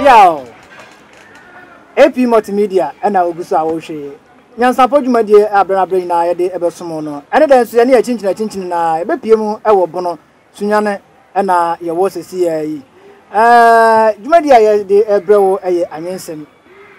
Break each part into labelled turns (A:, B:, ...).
A: Yow! AP Multimedia ɛna ogu so a wɔrehwɛ yi. Nyansapɔ dwumadie a berɛ na berɛ nyinaa yɛde ɛbɛsom no. Ɛne dɛ nso yɛne yɛkyinkyinakyinkyini na ɛbɛpie mu ɛwɔ bono. Sunyane na yɛwɔ sɛsiaa yi. Dwumadi a yɛde ɛbrɛ wo yɛ anwensɛm.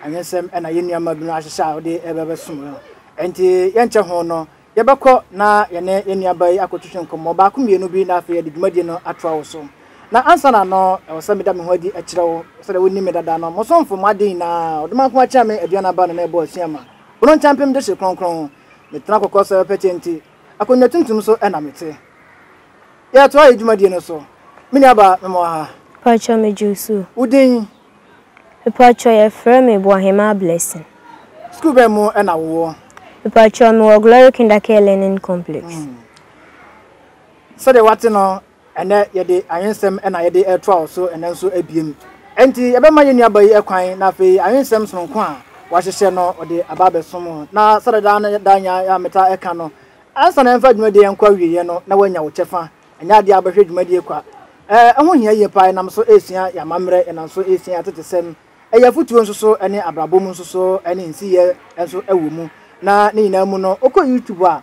A: Anwensɛm na yɛ nnuama binom ahyehyɛ a wode ɛbɛbɛsom no. Ɛnti yɛnkyɛ ho no, yɛbɛkɔ na yɛne yɛ nnuaba yi akɔtwetwe nkɔmmɔ baako mmienu bi na afei yɛde dwumadi no atoa wo so. Na ansa na no, ɛwɔ sɛ meda me ho adi kyerɛ wo. Sɛdeɛ wonim me dada no, mo somfo, mo ade nyinaa, ɔdomankoma akyɛn me, aduan aba na na ɛbɔ asuama. Bono nkyɛmpem de hye kronkron. Metena kɔkɔ sɛ pɛkyɛ nti. Akonnwa tuntum so na mete. Yɛtoa yɛn dwumadie no so. Me nua baa, me mmoa ha. Mpakyɛw me
B: Josue. Wo din?
A: Mpakyɛw
B: yɛfrɛ me Boahemaa Blessing. Sukuu bɛn
A: mu na wo wɔ? Mpakyɛw me wɔ
B: Glory Kindercare Learning Complex.
A: Sɛdeɛ wate no, Ɛnnɛ yɛde anwensɛm na yɛde retoa wo so ɛnnɛ nso abiem. Enti yɛbɛma yɛn nuaba yi kwan na afei anwensɛm sononko a wahyehyɛ no ɔde aba abɛsom wo. Na sɛdeɛ daa ne daa nya a meta ɛka no, ansa na yɛmfa dwumadie nkɔ awieɛ no na woanya wo kyɛfa. Ɛnyɛ adeɛ a wobɛhwɛ dwumadie kwa. Ɛɛ, ɛho hia yie paa. Yɛnam so resua yɛn amammerɛ, yɛnam so resua yɛn atetesɛm. Ɛyɛ afotuo nso so ne abrabɔ mu nso so ne nsiyɛ nso wɔ mu. Na ne nyinaa mu no, wokɔ YouTube a,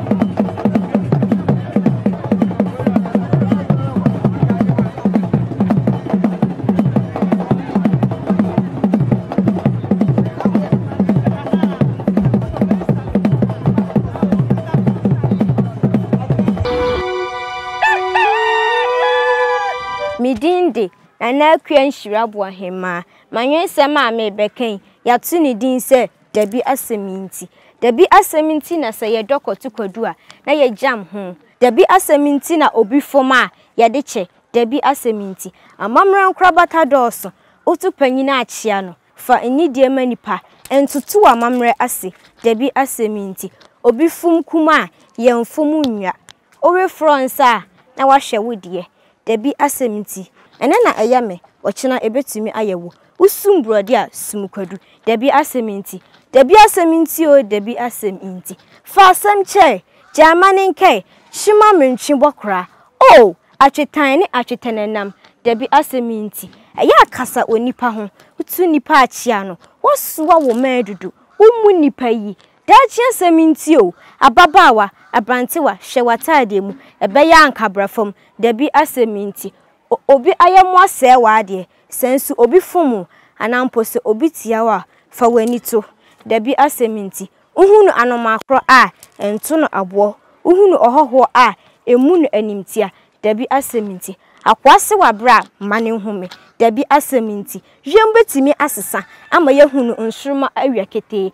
B: Nana Akua Nhyira Boahemaa. M'anwensɛm a merebɛka yi, yɛato ne din sɛ Dabi asɛm nti. Dabi asɛm nti na sɛ yɛdɔ Kɔto Kwadu a, na yɛgyam ho. Dabi asɛm nti na obi fam a, yɛde kyɛ. Dabi asɛm nti. Amammerɛ nkorabata dɔɔso. Woto panyin a, kyea no. Fa nnidie ma nnipa. Ntoto w'amammerɛ ase. Dabi asɛm nti. Obi fam kum a, yɛmfam nnwa. Worefrɔ nsa a na wahwɛ wo deɛ, dabi asɛm nti. Ɛnɛ na ɛyɛ me, ɔkyena ɛbɛtumi ayɛ wo. Wosum borɔdeɛ a, sum kwadu, dabi asɛm nti. Dabi asɛm nti o, dabi asɛm nti. Fa asɛm kyɛe, gya mma ne nkɛe, hye ma mentwe bɔ koraa. Oh! Atwetan ne atwetɛnɛnam, dabi asɛm nti. Ɛyɛ a kasa onipa ho, wotu nnipa akyea no, woasoa wo mma adudu, wommu nnipa yi, Daakye asɛm nti o, ababaawa, abrantewa, hwɛ w'ataadeɛ mu, ɛbɛyɛ a anka bra fam, dabi asɛm nti, o, obi ayɛmmoa sɛɛ w'adeɛ, sɛ nso obi fom wo, anaa mpo sɛ obi tia wo a, fa w'ani to, dabi asɛm nti, wohunu anomaa korɔ a, nto no aboɔ, wohunu ɔhɔhoɔ a, mmu no animtia, dabi asɛm nti, akoa se w'abrɛ a, mma no nhome, dabi asɛm nti, wiem bɛtumi asesa ama yɛahunu nsoromma awia ketee,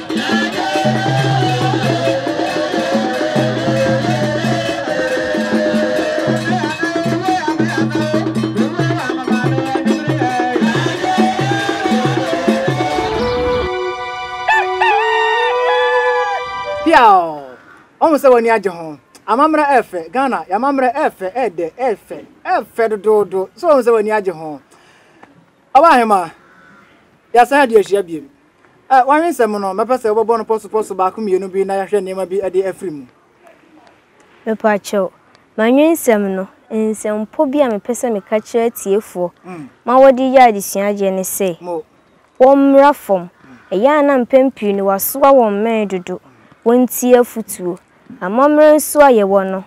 A: ɔhu sɛ w'ani agye ho amammerɛ ɛfɛ ghana yɛamammerɛ ɛfɛ ɛdɛ ɛfɛ ɛfɛ dodoodo sɛ ɔhu sɛ w'ani agye ho Ɔbahema, yɛasan adi ahyia bio. Ɛ, w'awe nsɛm no, mɛpɛ sɛ wobɛbɔ no pɔsopɔso baako mmienu bi na yɛahwɛ nneɛma bi de afiri mu.
B: Mepakyɛw, m'awe nsɛm no, nsɛmpɔ bi a mepɛ sɛ meka kyerɛ atiefoɔ ma wɔde yɛ adesua agyeɛ ne sɛ, wɔmmra fam. Ɛyɛ a na mpɛn pii no wɔasoa wɔn mmɛn dodo, wɔntie afotuo. Amammerɛ nso a yɛwɔ no,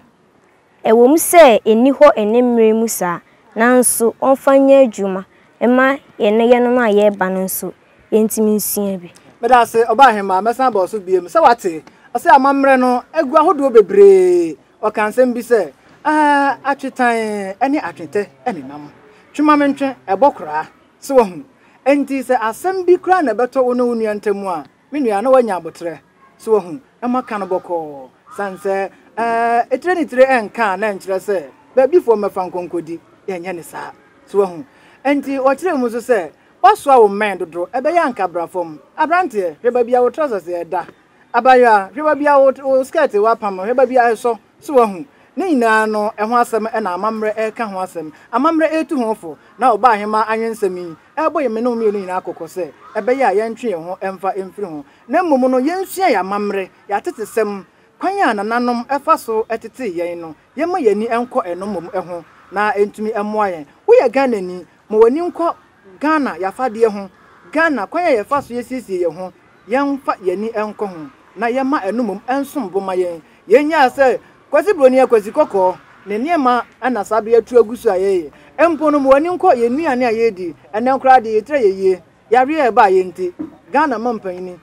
B: Ɛwom sɛ enni hɔ nnɛ mmere mu saa, nanso wɔmfa nyɛ adwuma mma ɛnnɛ yɛnom a yɛreba no nso yentumi nsua bi. Meda ase, Ɔbaahemaa,
A: mɛsan aba wo so bio. Sɛ woate, ɔse amammerɛ no agu ahodoɔ bebree. Ɔkaa nsɛm bi sɛ, Ah, atwetan ne atwetɛ nenam. Twe ma mentwe, ɛbɔ koraa. So woahunu? Enti sɛ asɛm bi koraa na ɛbɛtɔ wo ne wo nua ntam a, Me nua, na woanya aboterɛ, so woahu? Ɛma ka no bɔkɔɔ, sane sɛ, ɛɛ, tire ne tire ɛnka a, na ɛnkyerɛ sɛ, baabifoɔ mmɛfa nkɔnkɔdi. Yɛnyɛ no saa. So woahu? Enti, wɔkyerɛɛ mu nso sɛ, Woasoa wo mmɛn dodo, ɛbɛyɛ a anka bra fam. Aberanteɛ, hwɛ baabi a wo trɔsɛse ɛda. Abaayewa, hwɛ baabi a wo, wo skɛɛte a woapam no, hwɛ baabi a ɛsɔ. So woahu? Ne nyinaa no, ɛho asɛm na amammerɛ reka ho asɛm. Amammerɛ retu ho fo. Na ɔbaahemaa anwensɛm yi, ɛrebɔ yɛn mmene mmienu nyinaa kɔkɔ sɛ ɛbɛyɛ a yɛntwe yɛn ho mfa mfiri ho, na mmom no yɛnsua yɛn amammerɛ, yɛn atetesɛm, kwan a nananom fa so tetee yɛn no, yɛmma yɛn ani nkɔ ɛno mmom ho na ɛntumi mmoa yɛn. Woyɛ Ghanani? Ma w'ani nkɔ Ghana yɛafadeɛ ho, Ghana kwan a yɛfa so yɛsiesie yɛn ho, yɛmfa yɛn ani nkɔ ho na yɛmma ɛno mmom nsom bo ma yɛn. Yɛn nyaa sɛ Kwasi Broni yɛ Kwasi Kɔkɔɔ ne nneɛma na saa bere yi atu agu so a yɛyɛ mpo no ma w'ani nkɔ yɛn nnuane a yɛredi ɛnnɛ koraa deɛ yɛtira yɛ yie yareɛ a ɛbaa yɛn nti Ghana mampanyini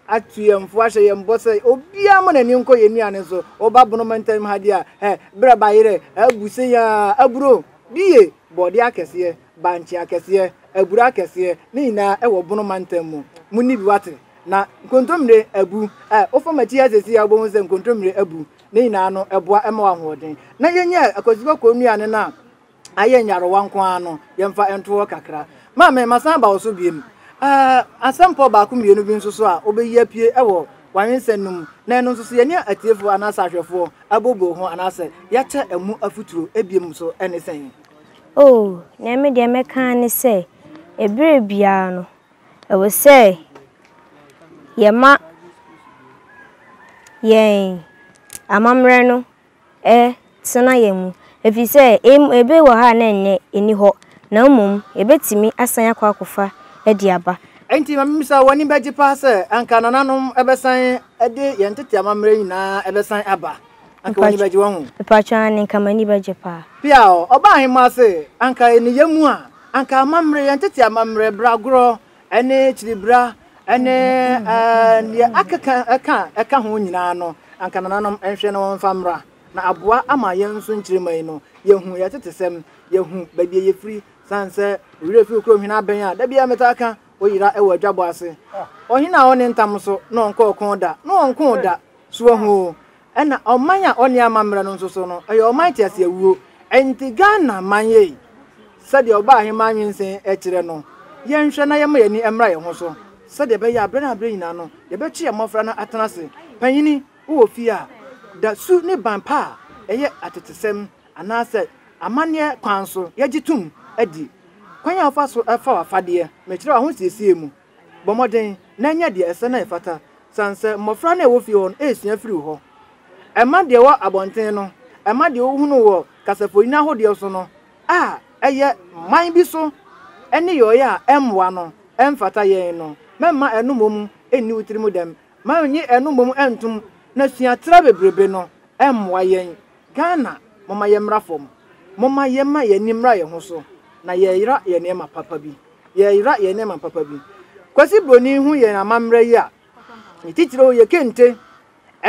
A: atu yɛn fo ahyɛ yɛn bɔ sɛ obiara mma n'ani nkɔ yɛn nnuane so woba bono mantam ha deɛ a hɛ berɛ bayerɛ abu seyaa aburo bie bɔɔdeɛ akɛseɛ bankye akɛseɛ, abura akɛseɛ, ne nyinaa wɔ Bono mantam mu. Monni bi wate. Na nkontommire abu. Ɛ, wofa m'akyi ha seesei a, wobɛhu sɛ nkontommire abu. Ne nyinaa no, ɛboa ma wo ahoɔden. Na yɛnyɛ akwasibɔ kɔnnua no na ayɛ nyarewa nko ara no, yɛmfa nto hɔ kakra. Maame, masan aba wo so biom. Ɛ, asɛmpɔw baako mmienu bi nso so a wobɛyi apue wɔ w'awensɛm no mu, na ɛno nso so yɛne atiefoɔ anaasɛ ahwɛfoɔ abobɔ ho anaasɛ yɛakyɛ ɛho afotuo biom nso ne sɛn? Oh,
B: nea eme deɛ mɛka ara ne sɛ, ɛberɛ biara no, ɛwɔ sɛ yɛma yɛn amammerɛ no tena yɛn mu, ɛfiri sɛ ɛberɛ bi wɔ hɔ a na ɛnyɛ, ɛnni hɔ, na mmom yɛbɛtumi asan akɔ akɔfa de aba. Enti ma memmisa wo,
A: w'ani bɛgye paa sɛ anka nananom bɛsan de yɛn tete amammerɛ nyinaa bɛsan aba? anka w'ani bɛgye wɔ ho. Mepaatwa aane nka m'ani
B: bɛgye paa. Pia o, ɔbaa ahemaa
A: se anka ɛni yɛ mu a, anka amammerɛ, yɛn tete amammerɛ, bragorɔ, ɛne kyiribra, ɛne ɛɛɛ neɛ akeka ɛka ɛka ho nyinaa no, anka nananom nhwɛ na wɔmfa mmra, na aboa ama yɛn nso nkyirimma yi no, yɛhu yɛn tetesɛm, yɛhu baabi a yɛfiri, sane sɛ ɔwerɛ fi kuro hwene abɛn a, da biara metaa ka, ɔyera ɛwɔ adwabɔ ase. Ɔhene a ɔne ntam so, na ɔnkɔ ɔko da, na ɔnkoo da, So wahu o? Ɛna ɔman a ɔnni amammerɛ no nso so no, ɛyɛ ɔman teaseawuo. Ɛnti Ghana man yei, sɛdeɛ ɔbaahemaa nwensen kyerɛ no, yɛnhwɛ na yɛmma yɛani mmra yɛn ho so, sɛdeɛ ɛbɛyɛ a berɛ na berɛ nyinaa no, yɛbɛkye yɛn mmɔfra no atena ase. Panyini, wowɔ fie a, da su ne ban pa a ɛyɛ atetesɛm anaasɛ amanneɛ kwan so yɛgye tom adi. Kwan a wofa so fa w'afadeɛ, mekyerɛ wo ahosiesie mu. Bɔ mmɔden na nya deɛ ɛsɛ na ɛfata sane sɛ mmɔfra no a ɛwɔ fie hɔ no resua firi wo hɔ. Ɛma deɛ ɛwɔ abɔnten no, ɛma deɛ wohunu wɔ kasafonini ahodoɔ so no a ɛyɛ man bi so nneyɔeɛ a ɛmmoa no, ɛmfata yɛn no, mɛmma ɛno mmom nni wo tirim dɛm. Ma nnye ɛno mmom ntom na sua tra bebrebe no mmoa yɛn. Ghana, momma yɛmmra fam. Momma yɛmma yɛn ani mmra yɛn ho so na yɛyera yɛ nneɛma papa bi. Yɛyera yɛn nneɛma papa bi. Kwasi Broni hu yɛn amammerɛ yi a, ne titiriw yɛ kente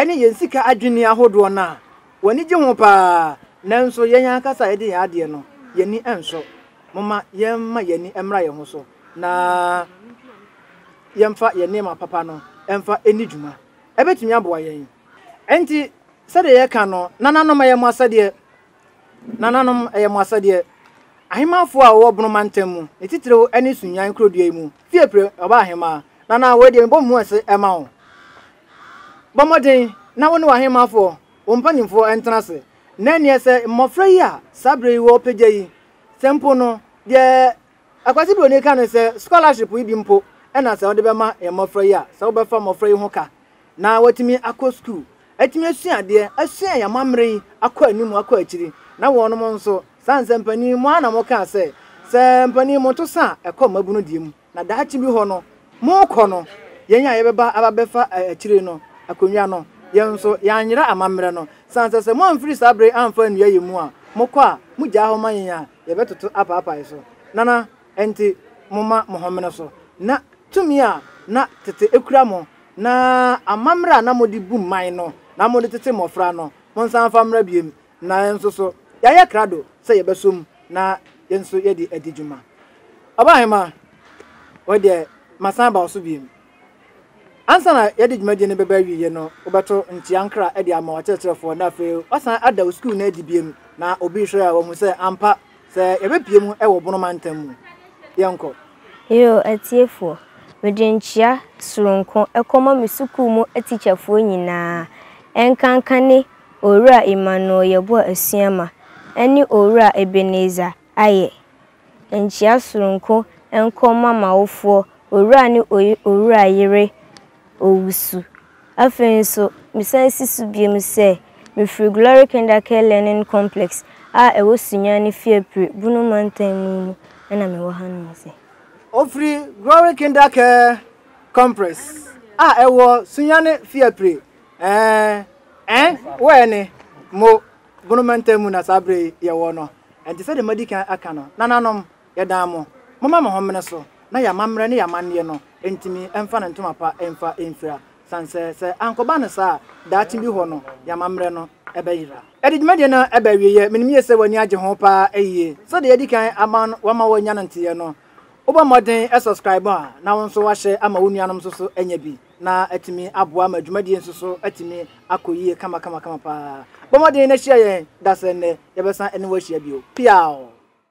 A: ne yɛn sika adwinni ahodoɔ no a, w'ani gye ho pa ara. Nanso yɛn ankasa a yɛde yɛn adeɛ no, yɛn ani nsɔ. Momma yɛmma yɛn ani mmra yɛn ho so na yɛmfa yɛn nneɛma papa no mfa nni dwuma. Ɛbɛtumi aboa yɛn. Enti sɛdeɛ yɛka no, nananom, ɛyɛ mo asɛdeɛ. Nananom, ɛyɛ mo asɛdeɛ. Ahemmanfoɔ a wɔwɔ Bono mantam mu, ne titiriw ɛne Sunnyan kurodua yi mu, fie pire, ɔbaa ahemmaa. Nanaa, wei deɛ mebɔ me mu ase ma wo. Bɔ mmɔden na wo ne w'ahemmanfoɔ, wo mpanimfoɔ ntena ase. Na ɛnneɛ sɛ mmɔfra yi a saa berɛ yi wɔrepagya yi, sɛ mpo no, deɛ. Akwasi Broni ka ne sɛ scholarship yi bi mpo na sɛ wɔde bɛma yɛn mmɔfra yi a, sɛ wobɛfa mmɔfra yi ho ka na wɔatumi akɔ sukuu, atumi asua adeɛ, asua yɛn amammerɛ yi akɔ anim, akɔ akyiri. Na wɔnom nso, sane sɛ mpanin, mo ara na mokaa sɛ, sɛ mpanin moto sa a, ɛkɔ mmabunu deɛ mu, na daakye bi hɔ no, morekɔ no, yɛn a yɛbɛba aba bɛfa akyire no akonnwa no, yɛn nso, yɛanyera amammerɛ no, sane sɛ, sɛ moamfiri saa berɛ yi amfa annua yɛn mu a, mokɔ a, mogyaa hɔ ma yɛn a, yɛbɛtoto apaapae so, nana enti momma mo ho mmene so na tumi a na tete ekura mo na amammerɛ a na mode bu mman no na mode tete mmɔfra no, monsan mfa mmra biem, na yɛn nso so yɛayɛ krado sɛ yɛbɛsom na yɛn nso yɛde adi dwuma. Ɔbahema, woi deɛ masan aba wo so biem. Ansa na yɛde dwumadie no bɛba awieɛ no, wobɛto nkyea nkra de ama w'akyerɛkyerɛfoɔ na afei woasan ada wo sukuu no adi biom na obi rehwɛ a wahu sɛ ampa sɛ yɛbɛpue mu wɔ Bono mantam mu. Yɛnkɔ. Yoo,
B: atiefoɔ, mede nkyea soronko kɔma me sukuu mu atikyafoɔ nyinaa, ɛnkanka ne Owura Emmanuel Yeboah Asuama ne Owura Ebenezer Ayɛ. nkyea soronko nkɔ mma m'awofoɔ, owura ne owura yere owusu. Afei nso, mesan si so biom sɛ, mefiri Glory Kindercare Learning Complex a ɛwɔ Sunyani Fiapre, Bono Mantam mu mu na mewɔ hanom sɛ. Ofiri
A: Glory Kindercare Complex a ɛwɔ Sunyani Fiapre, ɛɛh, ɛn, wɛɛne, mo. Bone mantam mu na saa bere yi yɛwɔ no, enti sɛnea madi kan aka no, nananom, yɛdan mo, momma mo ho mmene so na yɛn amammerɛ ne yɛn amanneɛ no ntumi mfa no ntoma pa mfa mfira, san sɛ, sɛ ankɔba no saa a, daakye bi hɔ no, yɛn amammerɛ no bɛyera. Yɛde dwumadi no reba awieeɛ, menim yie sɛ w'ani agye ho paa yie. Sɛdeɛ yɛadi kan ama wama woanya no nteɛ no, wobɔ mmɔden subscribe a, na wo nso woahyɛ ama wo nuanom nso so anya bi. na atumi aboa ma dwumadie nso so atumi akɔ yie kamakamakama paa. Bɔ mmɔden na hyia yɛn da sɛ nnɛ yɛbɛsan ne wo ahyia bio. Peaw!